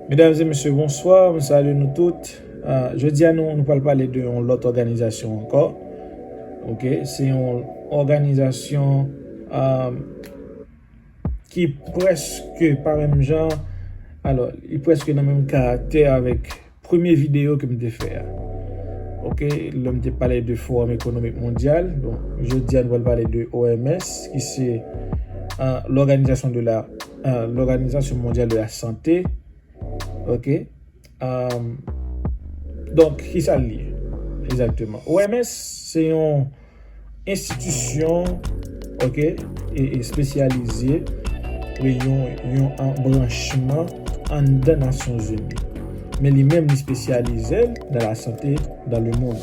Medam e mesye bonswa, m salye nou tout, jodi a nou pral pale de yon lòt òganizasyon ankò ok, se yon òganizasyon ki preske pa menm jan, alò li preske nan menm karaktè avèk. Premye video ke m te fè a. Ok lè m te pale de forum ekonomik mondyal bon jodi a nou pral pale de OMS ki se loganizasyon de la loganizasyon mondyal de la sante ok donk ki sa l ye egzakteman OMS se yon Enstitisyon ok espesyalize e yon yon anbranchman anndan Nasyon Zini. Men li menm li spesyalize l nan lasante dan le mond.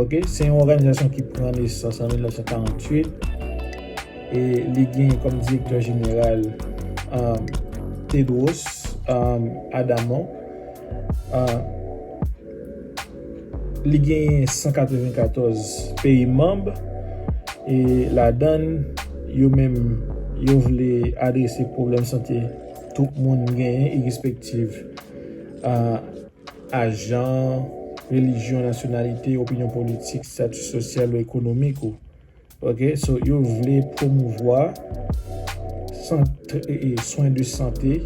Ok se yon òganizasyon ki pran nesans an 1948 e li gen kòm direktè jeneral Tedros Adhanom. Li genyen 194 peyi manb e ladann yo menm yo vle adrese pwoblèm sante tout moun genyen irespektiv a jan, relijyon, nasyonalite, opinyon politik, stati sosyal ou ekonomik ou. Ok so yo vle promouvwa swen de sante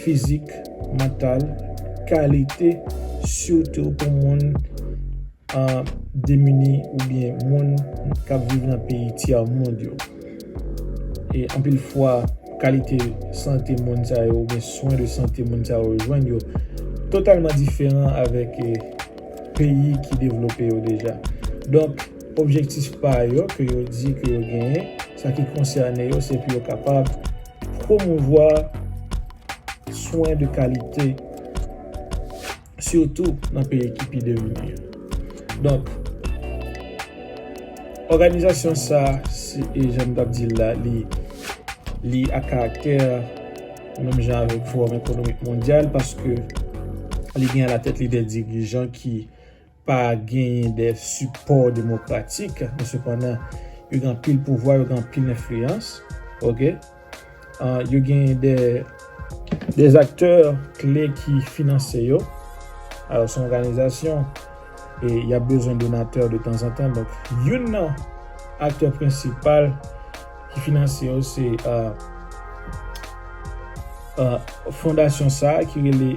fizik, mantal, kalite sitou pou moun demini oubyen moun kap viv nan peyi tyè mond yo. E anpil fwa kalite sante moun sa yo oubyen swen de sante moun sa yo jwenn yo totalman diferan avèk peyi ki devlope yo deja. Objektif pa yo ke yo di ke yo genyen, sa ki konsène yo se pou yo kapab pwomouvwa swen de kalite, sitou nan peyi ki pi devlope yo. Donk, òganizasyon sa, e jan m t ap di l la, li a karaktè menm jan avèk Fowòm Ekonomik Mondyal, paske li gen alatèt li de dirijan ki pa genyen de sipò demokratik, men sepandan yo gen anpil pouvwa, yo gen anpil enfliyans, ok, yo genyen de aktè kle ki finanse yo, alò se yon òganizasyon e y ap bezwen donatè de tanzantan, donk youn nan aktè prensipal. ki finanse yo se fondasyon sa a ki rele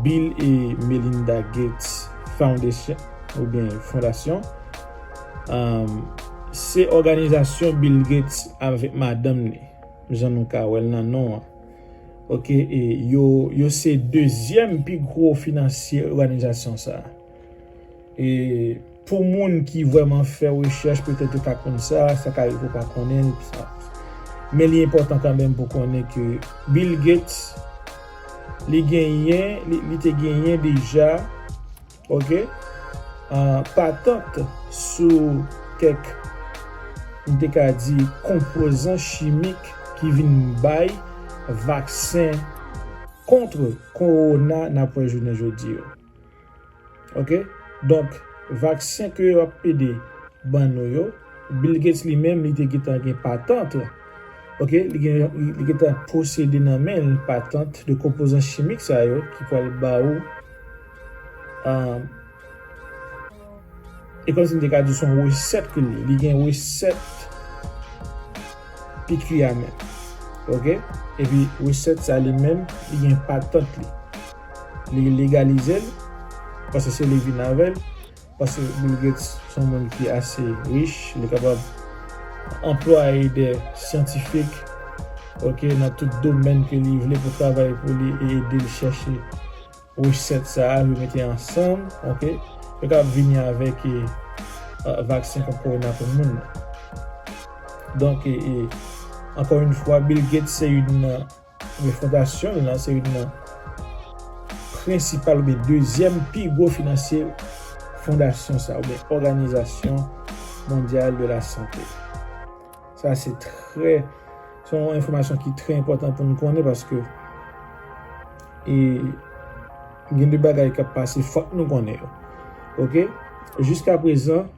Bill e Melinda Gates Foundation ou byen fondasyon. Se òganizasyon Bill Gates avèk madanm li, jan nou ka wè l nan non an. Ok, e yo se dezyèm pi gwo finansye òganizasyon sa a. E pou moun ki vrèman fè rechèch petèt yo ka konn sa, sa ka rive pou w pa konnen l, men li enpòtan kanmenm pou w konnen ke Bill Gates li genyen, li te genyen deja ok patant sou kèk m te ka di konpozan chimik ki vin bay vaksen kontre kowona n ap wè jounen jodi yo. Ok donk vaksen ke yo ap pede ban nou yo Bill Gates li menm li te gentan gen patant ok li gentan posede nan men l patant de konpozan chimik sa yo ki pwal ba ou e kòm si m te ka di son resèt ke li ye li gen resèt piki a menm ok epi resèt sa li menm li gen patant li. Li legalize l, paske se li vin avè l, paske Bill Gates se yon moun ki ase rich, li kapab anplwaye dè syantifik ok nan tout domèn ke li vle pou travay pou li e ede l chèche resèt sa a, yo mete ansanm ok, yo kapab vini avèk vaksen kont kowona pou moun nan. Donk, ankò yon fwa Bill Gates se youn nan. Men fondasyon l lan se youn nan prensipal oubyen dezyèm pi gwo finansye fondasyon sa oubyen òganizasyon mondyal de la sante. Sa se trè, se yon enfòmasyon ki trè enpòtan pou nou konnen paske e gen de bagay k ap pase fòk nou konnen yo. Ok, jiska prezan,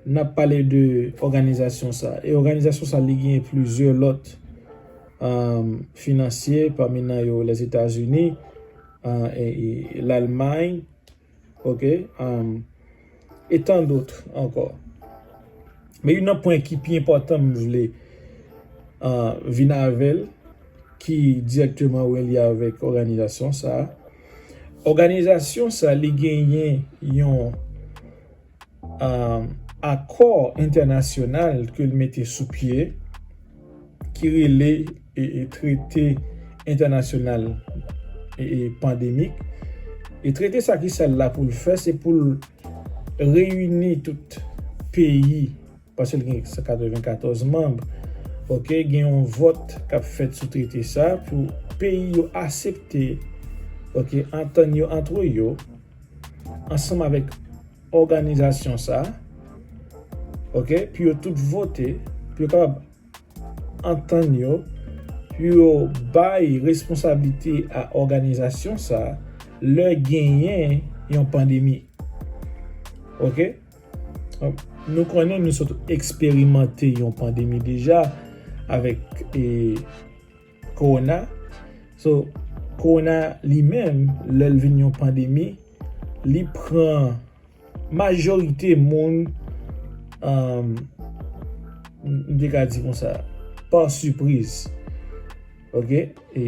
Nap pale de òganizasyon sa. E òganizasyon sa li genyen plizyè lòt finansye pami nan yo Lèzetazini, Lalmay ok e tan dot ankò. Men youn nan pwen ki pi enpòtan m vle vin avèl ki dirèkteman relye avèk òganizasyon sa. Òganizasyon sa li genyen yon. akò entènasyonal ke l mete sou pye ki rele trete entènasyonal pandemik e trete sa ki sa l la pou l fè se pou l reyini tout peyi Paske l gen 194 manb. Ok, gen yon vòt k ap fèt sou trete sa pou peyi yo asepte, ok, antann yo antre yo, ansanm avèk òganizasyon sa, ok, pou yo tout vote, pou yo kapab antann yo, pou yo bay responsablite a òganizasyon sa lè genyen yon pandemi. Ok. Nou konnen nou sot eksperimante yon pandemi deja avèk korona. So, korona li menm, lè l vin yon pandemi, li pran majorite moun, m te ka di konsa, pa sipriz. Ok, e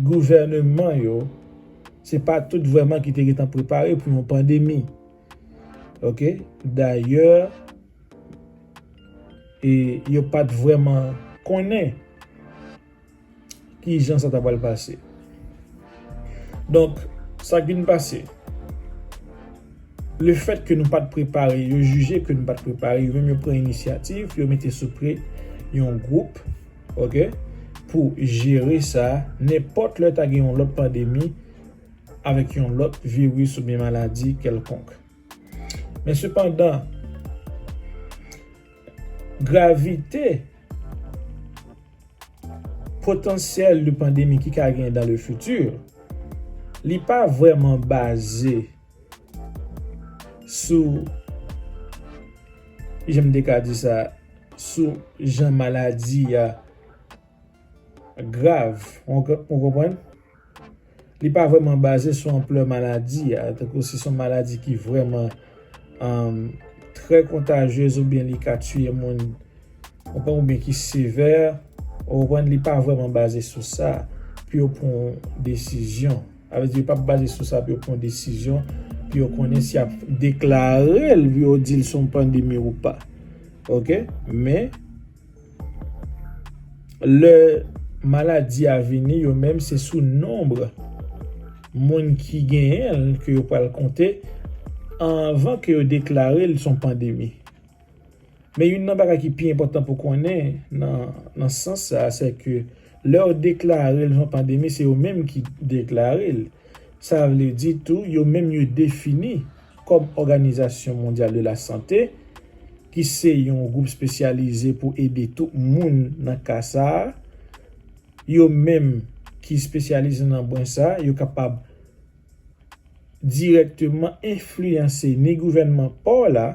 gouvèneman yo, se pa tout vreman ki te getan prepare pou yon pandemi. Ok dayè e yo pat vrèman konnen ki jan sa ta pral pase. Donk sa k vin pase le fèt ke nou pat prepare yo jije ke nou pat prepare yo menm yo pran inisyativ yo mete sou pye yon gwoup ok pou jere sa nenpòt lè ta gen yon lòt pandemi avèk yon lòt viris oubyen maladi kèlkonk. Men sepandan, gravite potansyèl yon pandemi ki ka gen dans le futur, li pa vrèman baze sou, kijan m te ka di sa, sou jan maladi a. Grav, ou konprann? Li pa vrèman baze sou anplè maladi a, tankou si son maladi ki vrèman trè kontajyez oubyen li ka tiye moun, ou konprann, oubyen ki sevè, ou konprann, li pa vrèman baze sou sa pou yo pran yon desizyon. Sa vle di yo pa p baze sou sa pou yo pran yon desizyon, pou yo konnen si y ap deklare l, pou yo di l se yon pandemi ou pa. Ok? Men. Lè maladi a vini, yo menm se sou nonb moun ki genyen l ke yo pral konte anvan ke yo deklare l se yon pandemi. Men youn nan bagay ki pi enpòtan pou konnen nan sans sa, se ke lè yo deklare l se yon pandemi, se yo menm ki deklare l. Sa vle di tou yo menm yo defini kòm Òganizasyon Mondyal de la Sante, ki se yon gwoup spesyalize pou ede tout moun nan ka sa a. Yo menm ki spesyalize nan bwen sa a, yo kapab dirèkteman enfliyanse ni gouvènman pa w la,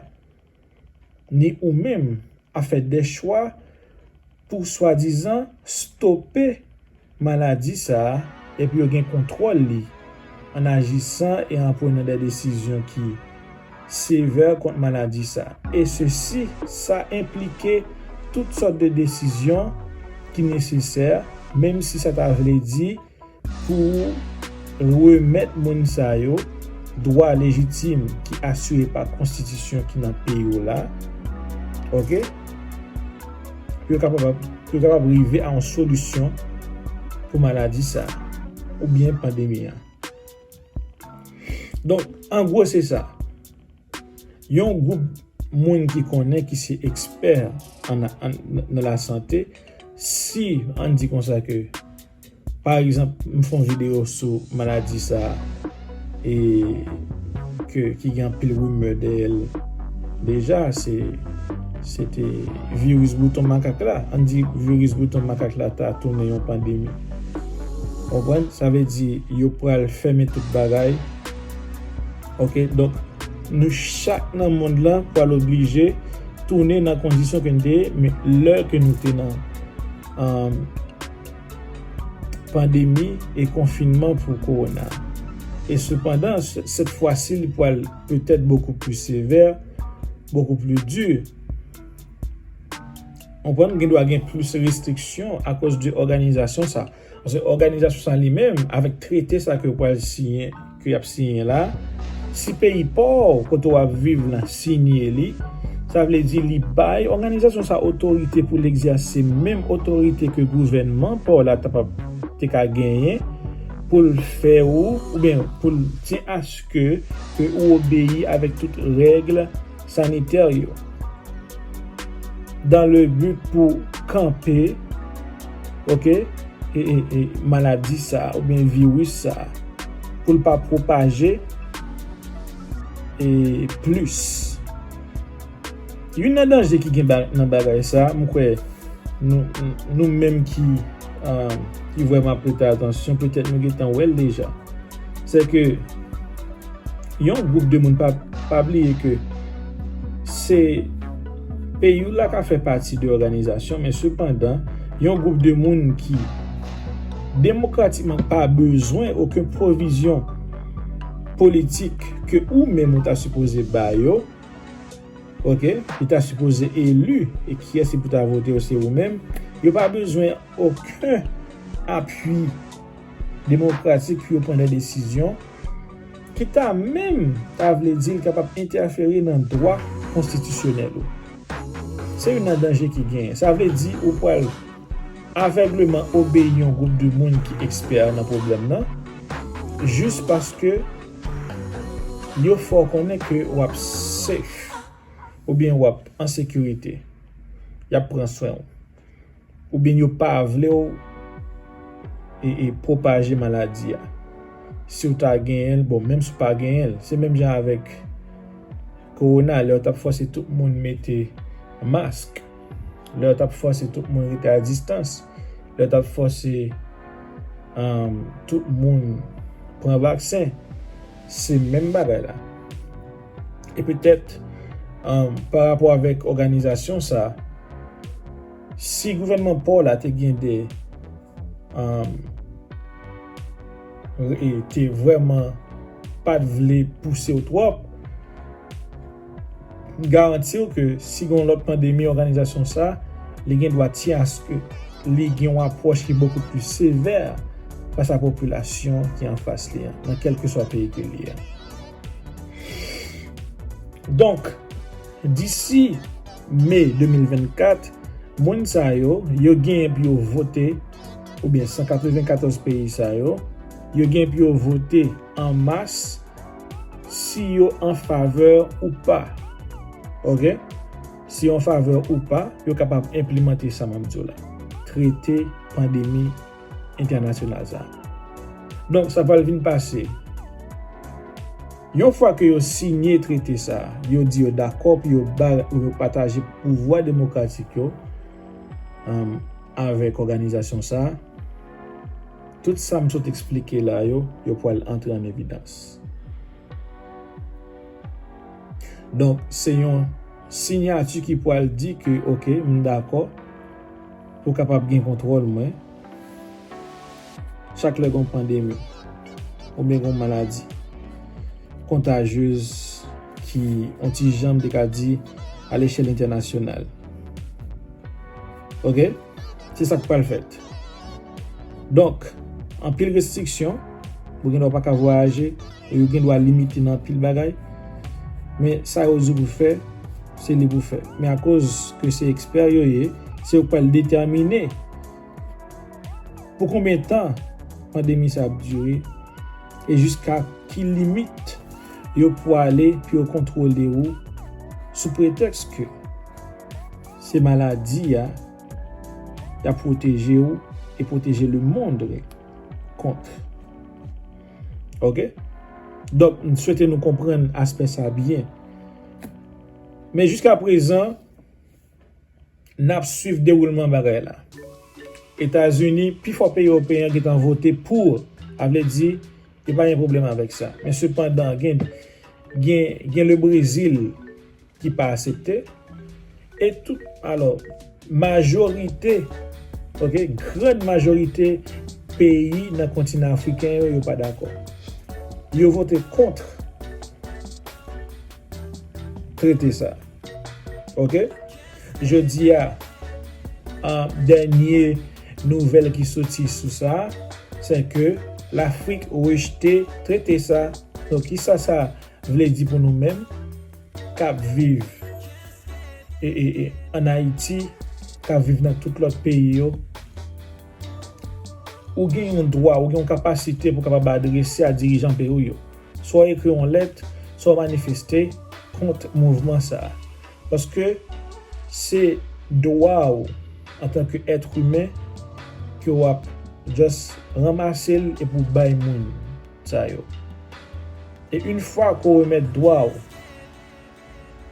ni ou menm a fè dè chwa pou swadizan stope maladi sa a e pou yo gen kontwòl li an ajisan e an pwenan dè desizyon ki sevè kont maladi sa a e sesi sa enplike tout sòt de desizyon ki nesesè menm si sa ta vle di Pou remèt moun sa yo dwa lejitim ki asire pa konstitisyon ki nan peyi w la, ok, pou yo kapab rive a yon solisyon pou maladi sa a oubyen pandemi an. Donk, an gwo se sa. Yon gwoup moun ki konnen ki se ekspè nan la sante, si an di konsa ke pa egzanp m fon video sou maladi sa e ke ki gen anpil rimè dèyè l deja se se te viris bouton makak la, an di viris bouton makak la ta tounen yon pandemi konprann sa vle di yo pral fèmen tout bagay. Ok donk nou chak nan mond lan pral oblije tounen nan kondisyon ke nou te ye men lè ke nou te nan an pandemi e konfinman pou korona e sepandan sèt fwa si li pral petèt bokou pli sevè bokou pli di ou konprann gen dwa gen plis restriksyon akoz de òganizasyon sa. Paske òganizasyon sa li menm avèk trete sa ke yo pral siyen, ke y ap siyen la, si peyi pa w kote w ap viv lan siyen li, sa vle di li bay òganizasyon sa otorite pou l egzèse menm otorite ke gouvènman pa w la ta pap te ka genyen pou l fè ou oubyen pou l ti aske ke ou obeyi avèk tout règle sanitè yo dan le but pou kanpe ok maladi sa ou byen virus sa pou l pa pwopaje plis youn nan danje ki gen nan bagay sa m kwè nou menm ki vwèman prete atansyon petèt nou gen tan wè l deja se ke Yon group de moun pa pa bliye ke se peyi w la ka fè pati de òganizasyon men sepandan yon group de moun ki demokratikman pa bezwen oken pwovizyon politik ke ou menm ou ta sipoze ba yo ok li ta sipoze eli e kiyès ki pou ta vote yo se ou menm yo pa bezwen oken apui. demokratik pou yo pran de desizyon ki ta menm ta vle di li kapab entèfere nan dwa konstitisyonèl ou. Se youn nan danje ki genyen. Sa vle di ou pral avègleman obeyi yon gwoup de moun ki ekspè nan pwoblèm nan jis paske yo fè w konnen ke w ap safe oubyen w ap an sekirite, y ap pran swen w. oubyen yo pa vle w pwopaje maladi a. Si w ta genyen l, bon menm si w pa genyen l, se menm jan avèk kowona lè yo t ap fòse tout moun mete mask, lè yo t ap fòse tout moun rete a distans, lè yo t ap fòse tout moun pran vaksen, se menm bagay la. E petèt, pa rapò avèk òganizasyon sa, si gouvènman pa w la te gen de, e te vrèman pa t vle pouse w twòp, m garanti w ke si gen yon lòt pandemi òganizasyon sa, li gen dwa ti aske li gen yon apwòch ki bokou pli sevè fas a popilasyon ki anfas li an, nan kèlkeswa peyi ke li ye. Donk, disi Me 2024, moun sa yo, yo genyen pou yo vote, oubyen 194 peyi sa yo, yo genyen pou yo vote an mas si yo an favè ou pa. Ok? Si yo an favè ou pa, yo kapab enplemante sa m ap di w la. Trete pandemi. entènasyonal sa. Donk sa pral vin pase, yon fwa ke yo siyen trete sa, yo di yo dakò pou yo bay ou yo pataje pouvwa demokratik yo avèk òganizasyon sa, tout sa m sot eksplike la yo, yo pral antre an evidans. Donk se yon sinyati ki pral di ke ok m dakò. Ou kapab gen kontwòl mwen. Chak lè gon pandemi oubyen gon maladi kontajyez ki on ti jan m te ka di a lechèl entènasyonal. Ok, se sa k pral fèt. Donk, anpil restriksyon, ou gendwa pa ka vwayaje. Yo gen dwa limite nan anpil bagay, men sa yo di pou fè, se li pou fè. Men akoz ke se ekspè yo ye, se yo k pral detèmine pou konbyen tan pandemi sa ap dire e jiska ki limit yo pwale pou yo kontwole ou sou pretèks ke se maladi a y ap pwoteje ou e pwoteje lemond kont. Ok. Donk, m swete nou konprann aspè sa a byen. Men jiska prezan, n ap swiv dewoulman bagay la. Etazini, pi fò peyi ewopeyen yo gentan vote pou. Sa vle di, yo pa gen pwoblèm avèk sa. Men sepandan, gen, gen, gen le Brezil. ki pa asepte e tout alò majorite ok grand majorite peyi nan kontinan afriken yo yo pa dakò yo vote kontre trete sa ok jodia an dènye nouvèl ki soti sou sa se ke lafrik rejte trete sa to kisa sa vle di pou nou menm. k ap viv ann Ayiti, k ap viv nan tout lòt peyi yo, ou gen yon dwa, ou gen yon kapasite pou w kapab adrese a dirijan peyi w yo. Swa w ekri yon lèt, swa w manifeste kont mouvman sa a. Paske se dwa w antanke èt imen ke w ap just ranmase l epi w bay moun. sa yo. E yn fwa ke w remèt dwa w,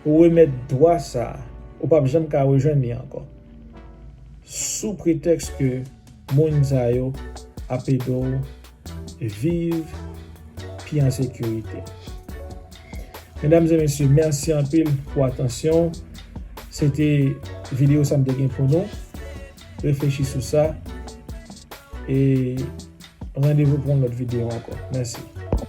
ou remèt dwa sa, ou pap janm ka rejwenn li ankò. Sou pretèks ke moun sa yo ap ede w viv pi an sekirite. Medam e mesye, mèsi anpil pou atansyon w. Se te video sa m te gen pou nou. Reflechi sou sa e randevou pou yon lòt videyo ankò. Mèsi.